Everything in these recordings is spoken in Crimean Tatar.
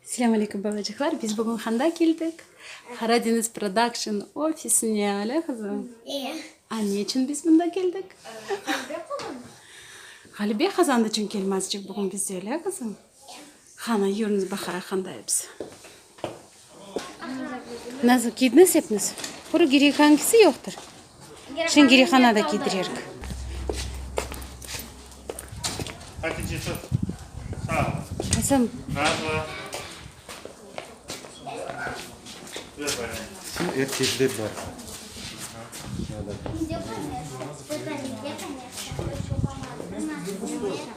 Selam aleyküm balacıqlar. Biz bugün handa keldik. Qara deñiz production ofisine, ale qızım? Eee. A ne içün biz mında keldik? Ğalibe qazandı. Ğalibe qazandı içün kelmezcik bugün bizde, ale qızım? Qanı yürniz Bahara qanda episi. Nazlı kiydiniz epiniz. Quru girihan kisi yoqtır. Şen girihana da kiydirerik. Hatice tut. Sağ ol. Qızım. Nazlı. Ver bana. Şu erkekler var. Hı -hı.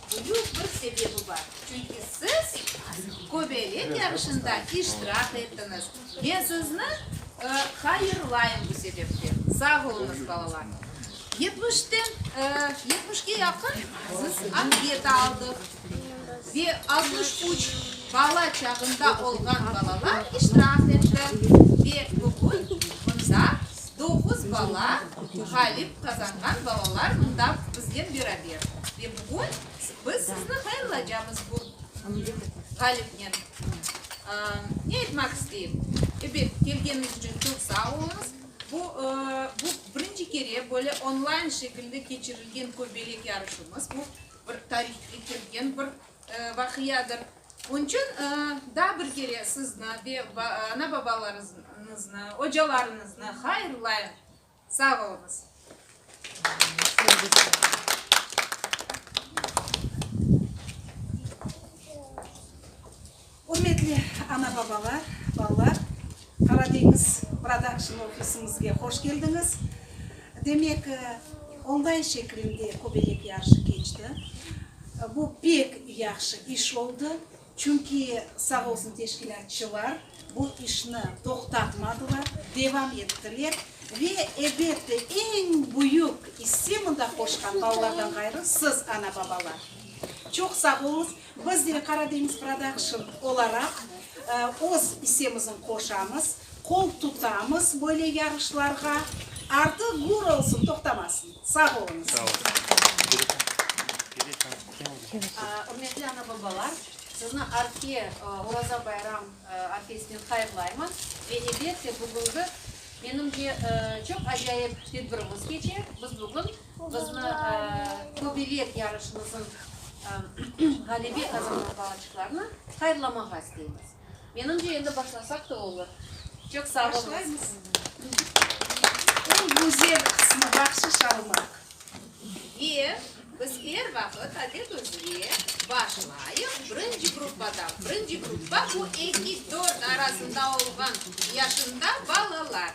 Büyük bir sebebi bar, çünki siz köbelek yarışında iştirak ettiniz. Men sizni hayırlayım bu sebepten. Sağ oluñız, balalar. Yetmişten, yetmişke yaqın biz anket aldıq ve altmış üç bala çağında olğan balalar iştirak etti ve bugün mında Doğuz bala ğalip qazanğan balalar mında biznen beraber ve bugün biz sizni hayırlaycamız bu ğalipnen. Ne aytmaq isteyim, ebet, kelgeniñiz içün çoq sağ oluñız. Bu, bu birinci kere böyle online şekilde keçirilgen köbelek yarışımız, bu bir tarihke kirgen bir Vaqiadır. Onıñ içün daa bir kere sizni ve ana-babalarıñıznı, ocalarıñıznı hayırlayım. Sağ oluñız. Ürmetli ana-babalar, balalar! Qaradeñiz Production ofisimizge hoş keldiñiz. Demek, onlayn şeklinde köbelek yarışı keçti. Bu pek yahşı iş oldı, çünki sağ olsun teşkilâtçılar bu işni toqtatmadılar, devam ettiler ve, ebet de, eñ büyük isse mında qoşqan balalardan ğayrı siz, ana-babalar. Çoq sağ oluñız, Biz de Karadeniz Production olaraq öz isemizni qoşamız, qol tutamız böyle yarışlarğa. Artı gür olsun, toqtamasın! Sağ oluñız! Ürmetli ana-babalar, sizni arfe Oraza bayram arfesinen hayırlayman. Ve elbette bugüngi menimce çoq acayip tedbirimiz keçe. Biz bugün. Qıznı köbelek yarışımızıñ ğalebi qazanğan balaçıqlarını hayırlamağa isteymiz. Menimce, endi başlasaq da olur. Çoq sağ oluñız. Başlaymız. Eñ güzel qısmı, bahşış almaq. Ve biz er vaqıt adetümizge başlayıq, birinci gruppadan. Birinci gruppa, bu eki-dört arasında olğan yaşında balalar.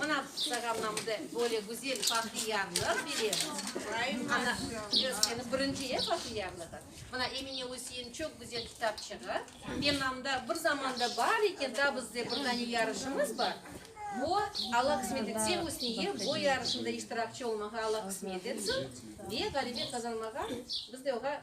Mına programmamda böyle güzel bahtiyarlar bilemiz. Ana, özüni birinci e bahtiyarlığı. Mına Emine Usiye'nin çoq güzel kitapçığı. Menamda bir zamanda bar eken, da bizde bir dane yarışımız bar. Bu Allah kısmet etse Usniye bu yarışında iştirakçı olmağa Allah kısmet etsin ve ğalebet qazanmağa biz de oğa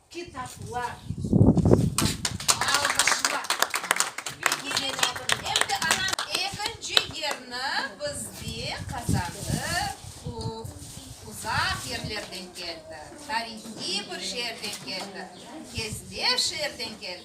Kitaplar, alqışlar. Bilgileniñ, em de anam ekinci yerni bizde qazandı, u uzaq yerlerden keldi, tarihiy bir şeerden keldi, kezde şeerden keldi.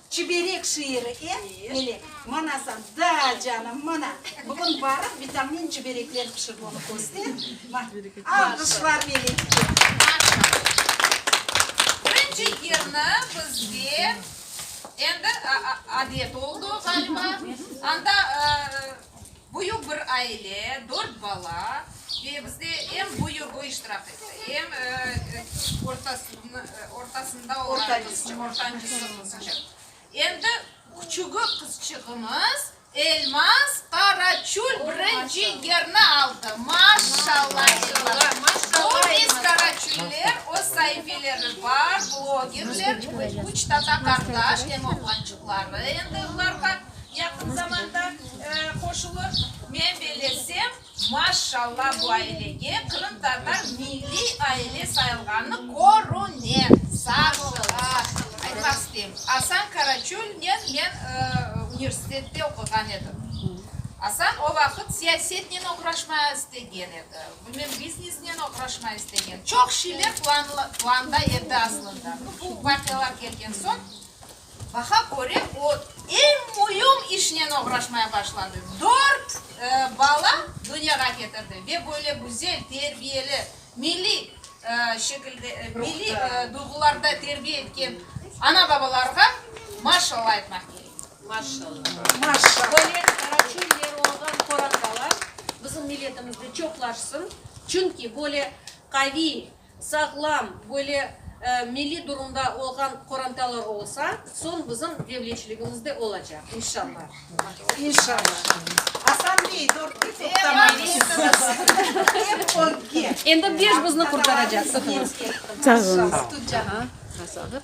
Çiberek şiiri em, mine, manasan, da, canım, mana, bugün barıp vitamin çiberekler pişip onı köster, ma, alqışlar Melekke. Birinci yerni bizde endi a, a, adet oldu, ğaliba, anda, ıı. Büyük bir aile, dört bala ve bizde eñ büyügi iştirak etti. Eñ ortasında olğan qızçıq, ortancısı qızçıq. Endi küçügi qızçığımız Elmaz Qaraçül birinci yerni aldı. Maşşalla Elmaz! Bu biz Qaraçüller, öz saifeleri bar, blogerler, üç tata qardaş, eñ oğlançıqları endi olarğa. Yaqın zamanda qoşulır. Men belesem, maşşalla, bu ailege qırımtatar milliy aile sayılğanı körüne. Saşıla. Aytmaq isteyim, Asan Karaçölnen men universitette oquğan edim. Asan o vaqıt siyasetnen oğraşma istegen edi, bilmem, biznesnen oğraşma istegen. Çoq şeyler planda edi aslında. Bu vaqialar kelgen soñ Baha köre, o, eñ müim işnen oğraşmaya başladı, dört bala dünyağa ketirdi ve böyle güzel, terbiyeli, milliy şekilde, milliy duyğularda terbiye etken ana-babalarğa maşşalla aytmaq kerek. Maşşalla. Böyle qaraçöller olğan qorantalar bizim milletimizde çoqlaşsın, çünki böyle qaviy, Sağlam, böyle milliy durumda olğan qorantalar olsa, soñ bizim devletçiligimiz de olacaq, inşalla. İnşalla. Asan bey, dörtke toqtamayız. Endi beş bizni qurtaracaqsıñız. Sağ olunız. Sağ olunız.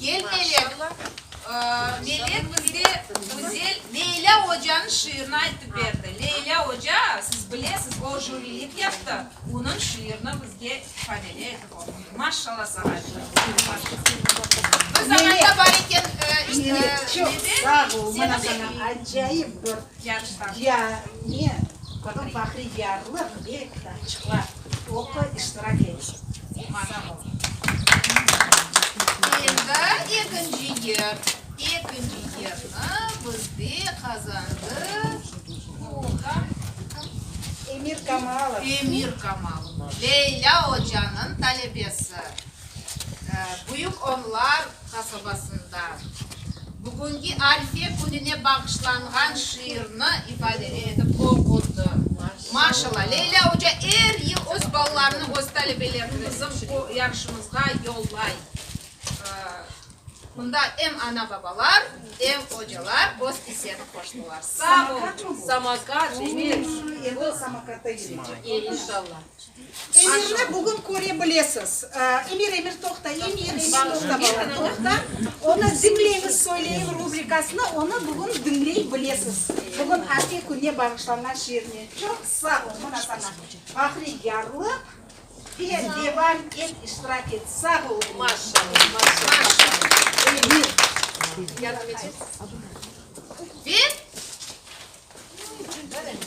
Gel Melek, Melek bize güzel Leyla ocanıñ şiirini aytıp berdi. Leyla oca, siz bilesiz, o jürilik yaptı, onıñ şiirini bizge ifadeli etip oqudı. Maşşalla saña Biz añayda bar eken, nede? Oqu, iştirak et, mada bol. Endi ekinci yer. Ekinci yerni bizde qazandı Oha. Emir Kamalov. Emir Kamalov. Leyla ocanıñ talebesi. Büyük Onlar qasabasında bugünki Arife kününe bağışlanğan şiirni ifadeler etip oqudı. Maşalla, Leyla oca er yıl öz balalarını öz talebelerine bizim bu yarışımızğa yollay. Mında em ana-babalar, em ocalar öz iseni qoştılar. Sağ olun. Samokat, evet. Endi samokatta yürüycek. İnşallah. Emirni bugün köre bilesiz. Emir, Emir, toqta, Emir, Emir, toqta, bala, toqta. Onı diñleñiz, söyleyiñ rubrikasını, onı bugün diñley bilesiz. Bugün Ake kününe bağışlanğan şiirni. Çoq sağ ol, mına saña bahriyarlıq ve devam et, iştirak et. Sağ ol, Emir. Maşallah, maşallah. Emir. Yardım etesiniz? Ve.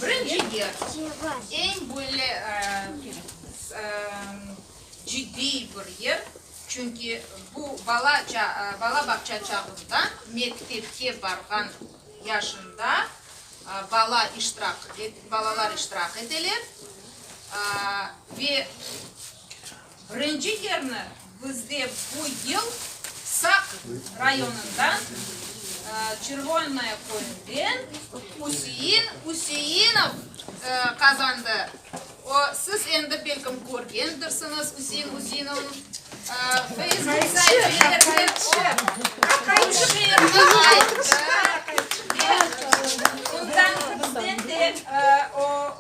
Birinci yer, eñ böyle ciddiy bir yer, çünki bu bala bağça çağında, mektepke barğan yaşında bala iştirak, balalar iştirak eteler ve Birinci yerni bizde bu yıl Saq rayonından, Çervonnoye köyünden Üsein Üseinov qazandı. O, siz endi belkim körgendirsiñiz Üsein Üseinovnıñ Facebook sahifelerini.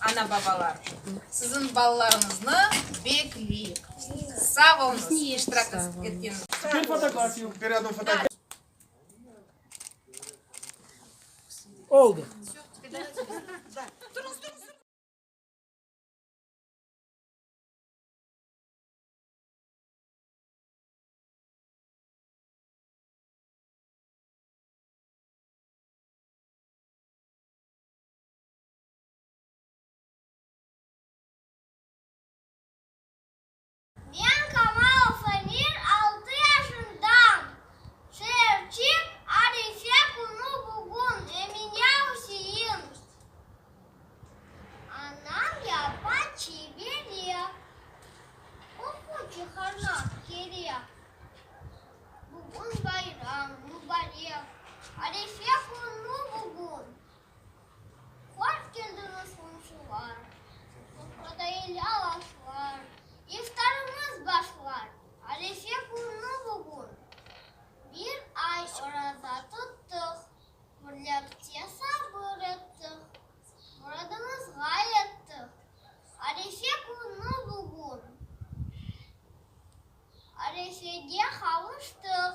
Ana-babalar, siziñ balalarıñıznı bekleyik. Sağ olunız, iştirak etkeniniz. Men Kamal Samir, altı yaşındam. Şeerçik, Arife künü bugün, Eminya Usein. Anam yapa çiy bere, qoqu çıqarmaq kerek. Bugün bayram, mübarek, Arife künü bugün. Hoş keldiñiz, qomşular! Sofradayla aşlar, iftarımız başlar. Arefe künü bugün. Bir ay oraza tuttıq, birlikte sabır ettik, muradımızğa yettik. Arefe künü bugün. Arefege qavuştıq.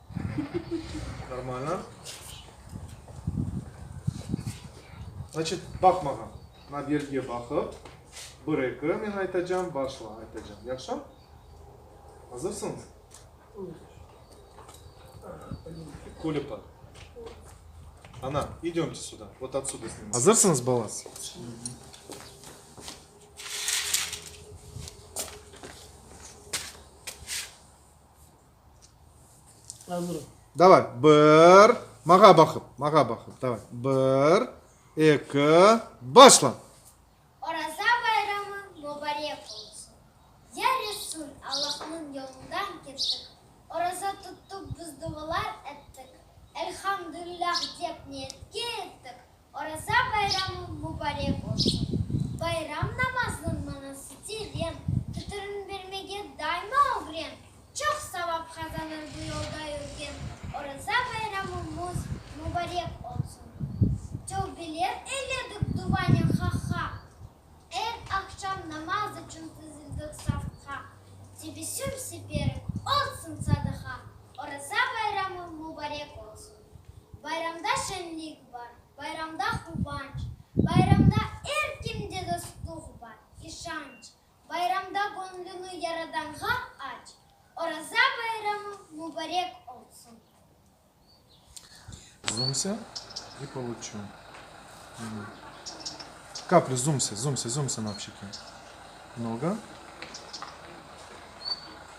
Normalno. Znaçıt, baq mağa. Na belgiye baqıp, bir, eki, men aytacam, başla, aytacam. Yahşı? Azırsıñız? Kulüpa. Ana, idömce suda. Vot otsuda snimatsız. Azırsıñız, bala? Davay, bir, mağa baqıp, mağa baqıp, davay, bir, eki, başla! Oraza bayramı mubarek olsun! Yar etsin Allahnıñ yolundan kettik, oraza tuttık biz duvalar ettik, Elhamdülilâh dep niyetke yettik, Oraza bayramı mubarek olsun! Bayram namazınıñ manası teren, tütürün bermege daima ögren, çoq savap qazanır bu yolda yürgen. Oraza bayramımız mubarek olsun! Tövbeler eyledik duvanen Haqqa, er aqşam namaz içün tizildik safqa, tebessüm seperim olsun sadaqa, Oraza bayramı mubarek olsun! Bayramda şenlik bar, bayramda quvanç, Bayramda er kimde dostluq bar, işanç, Bayramda göñlüni Yaradanğa aç, Oraza bayramı mubarek olsun! Zumse i poluçu kapli zumse, zumse, zumse na pşiki mnogo.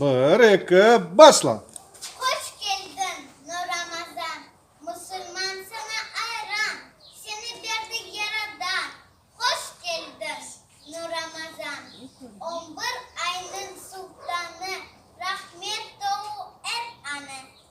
Bir, eki, başla! Hoş keldiñ, Nuramazan! Musulman saña ayran, Seni berdi Yaradan. Hoş keldiñ, Nuramazan! On bir aynıñ sultanı, Rahmet dolu er anı,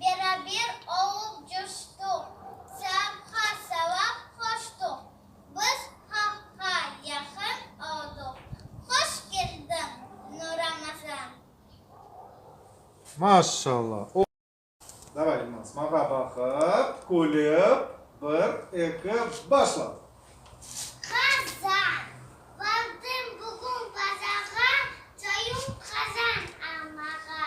Beraber olıp coştuq. Saapqa savap qoştuq. Biz Haqqa yaqın olduq. Hoş keldiñ, Nuramazan! Maşşalla! O. Davay, İlmaz, maña baqıp, külip, bir, eki, başla! Qazan! Bardım bugün bazağa, Çoyum qazan almağa.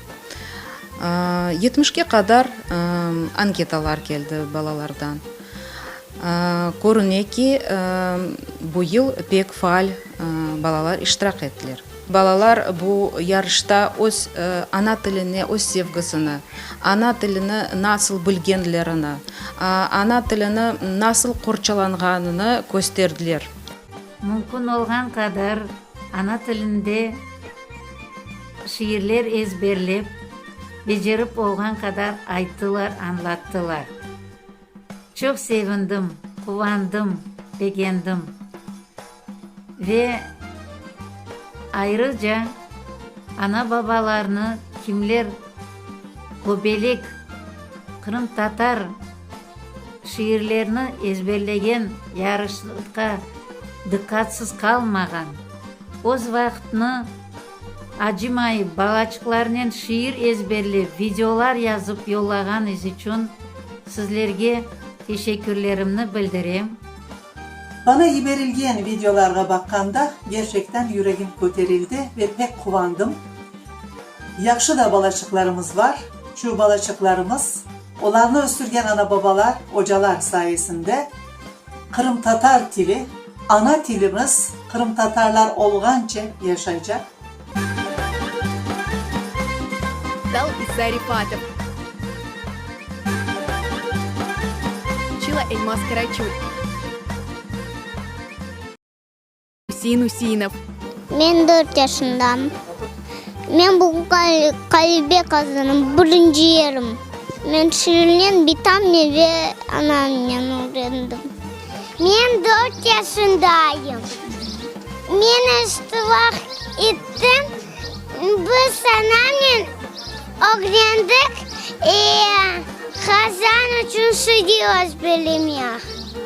Yetmişke qadar anketalar keldi balalardan. Körüne ki, bu yıl pek faal balalar iştirak ettiler. Balalar bu yarışta öz ana tiline öz sevgisini, ana tilini nasıl bilgenlerini, ana tilini nasıl qorçalanğanını kösterdiler. Mümkün olğan qadar ana tilinde. Şiirler ezberlep, becerip olğan qadar ayttılar, añlattılar. Çoq sevindim, quvandım, begendim. Ve ayrıca ana-babalarnı kimler göbelek qırımtatar şiirlerini ezberlegen, yarışqa dıqqatsız qalmağan, öz vaqıtnı, Acımayıp, balaçıqlarnen şiir ezberlep, videolar yazıp yollağanıñız içün sizlerge teşekkürlerimni bildirem. Bana yiberilgen videolarğa baqqanda, gerçekten yüregim köterildi ve pek quvandım. Yahşı da balaçıqlarımız bar. Çü balaçıqlarımız, olarnı östürgen ana-babalar, ocalar sayesinde Qırımtatar tili, ana tilimiz qırımtatarlar olğance yaşaycaq. Dal Zaripatov. Çila Elmas Karaçul. Üsein Üseinov. Men dört yaşındam. Men bugün Qalibek azanım, birinci yerim. Men Şirinen bitamnen ve anamnen ögrendim. Men dört yaşındayım. Men iştirak ettim. Biz anamnen ögrendik, Qazan içün Şiri özbelemek.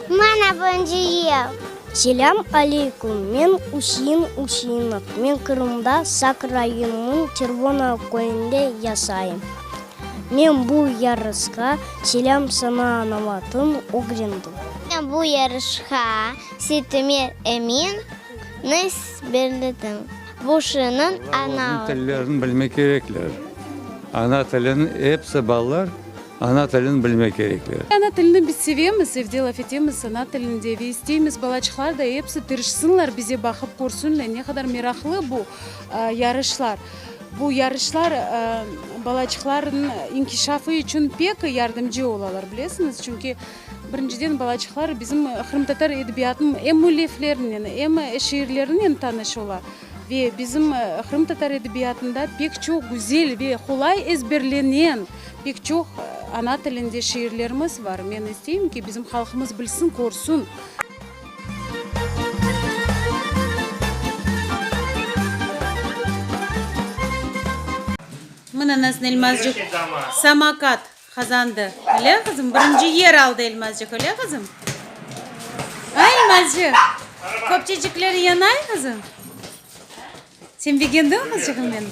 Mana birinci yıl. Selâm aleyküm, men Usiin Usiinov, men Qırımda Sak rayonınıñ Çervona köyünde yasayım. Men bu yarışqa Selâm sana anavatın ögrendim. Men bu yarışqa Sitümer Emin ni belledim. Bu şiinin anavatın. Balalarnıñ tillerini bilmek kerekler. Ana tilini episi balalar. Ana tilini bilmek kerekler. Ana tilini biz sevemiz, evde laf etemiz ana tilinde ve isteymiz, balaçıqlar da episi tırışsınlar, bize baqıp körsünler, ne qadar meraqlı bu yarışlar. Bu yarışlar balaçıqlarnıñ inkişafı içün pek yardımcı olalar, bilesiñiz, çünki, birinciden, balaçıqlar bizim qırımtatar edebiyatınıñ em müelliflerinen, em şiirlerinen tanış ola ve bizim qırımtatar edebiyatında pek çoq güzel ve qolay ezberlenen, Pek çoq ana tilinde şiirlerimiz bar. Men isteyim ki, bizim halqımız bilsin, körsün. Mına nasıl Elmazcık samakat qazandı, öyle qızım? Birinci yer aldı Elmazcık, öyle qızım? A, Elmazcık, köpçecikleri yanay qızım? Sen begendiñ qızcığım benim?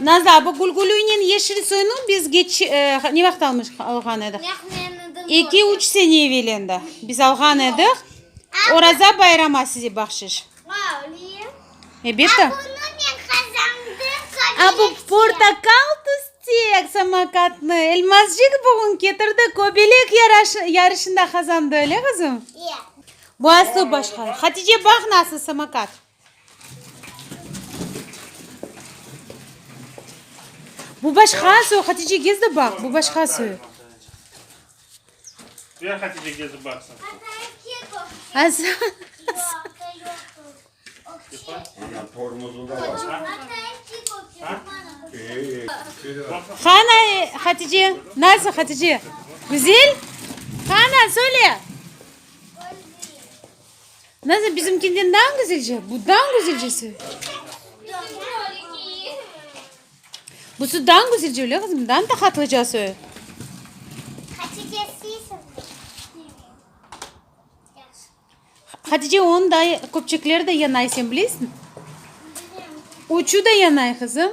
Naza, bu gülgülünen yeşil soyunu biz geç, ne vaqıt almış, alğan ediq? Eki, üç sene evelinde biz alğan ediq. Oraza bayrama size bahşiş. Ebette. A, bu portakal tüstek samakatnı Elmazcik bugün ketirdi, köbelek yarışında qazandı, öyle qızım? Bu aslı başqa. Hatice, baq, nasıl samakat. Bu başqa soy, Hatice gez de baq, bu başqa soy. Ver Hatice gez de baqsın. Ana tormozu da var. Hana Hatice, nasıl Hatice? Güzel? Hana söyle. Nazır, bizimkinden daa güzelce, bu daa güzelcesi. Busı daa güzelce, öyle kızım, daa tahatlıcası. Hatice onun da köpçekleri de yanay, sen bileysin. Uçu da yanay kızım.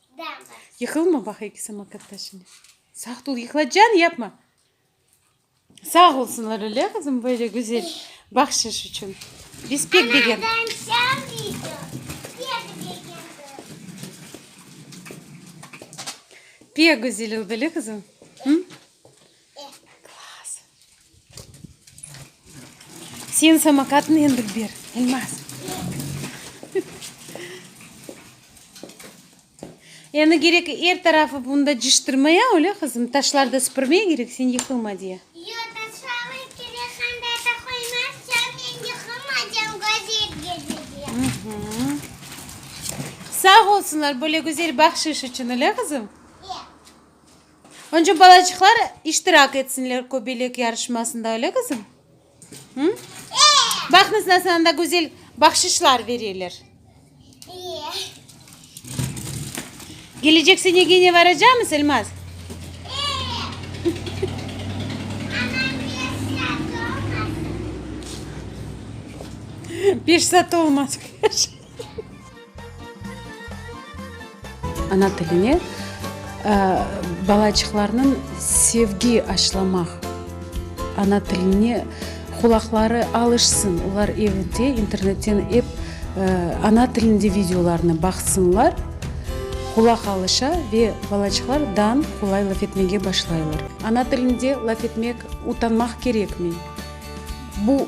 Yıqılma baq eki samokat taşıne. Sağ tul yıqlacan yapma. Sağ olsunlar öyle kızım böyle güzel bahşiş için. Biz pek beğendik. Pek güzel oldu öyle kızım. Hı? Sen samokatnı endi ber, Elmaz. Endi kerek er tarafı bunda ciştirmeye, öyle qızım? Taşlar da süpürmeye kerek, sen yıqılma diye. Yoq, taşlarnı kerek hem de ete qoymaz, çünki men yıqılmaycam, gözel gözüküyor. Sağ olsunlar, böyle gözel bahşiş içün, öyle qızım? Yoq. Önce balacıqlar iştirak etsinler köbelek yarışmasında, öyle qızım? Hı? Baqnız nasıl anda güzel bahşişlar vereler. Gelecek sene gene varacağımız Elmaz? Beş saat olmaz. Ana tiline balaçıqlarnıñ sevgi aşılamaq, ana tiline qulaqları alışsın, olar evde internetten ep ana tilinde videolarnı baqsınlar, qulaq alışa ve balaçıqlar dan qolay laf etmege başlaylar. Ana tilinde laf etmek utanmaq kerekmi? Bu.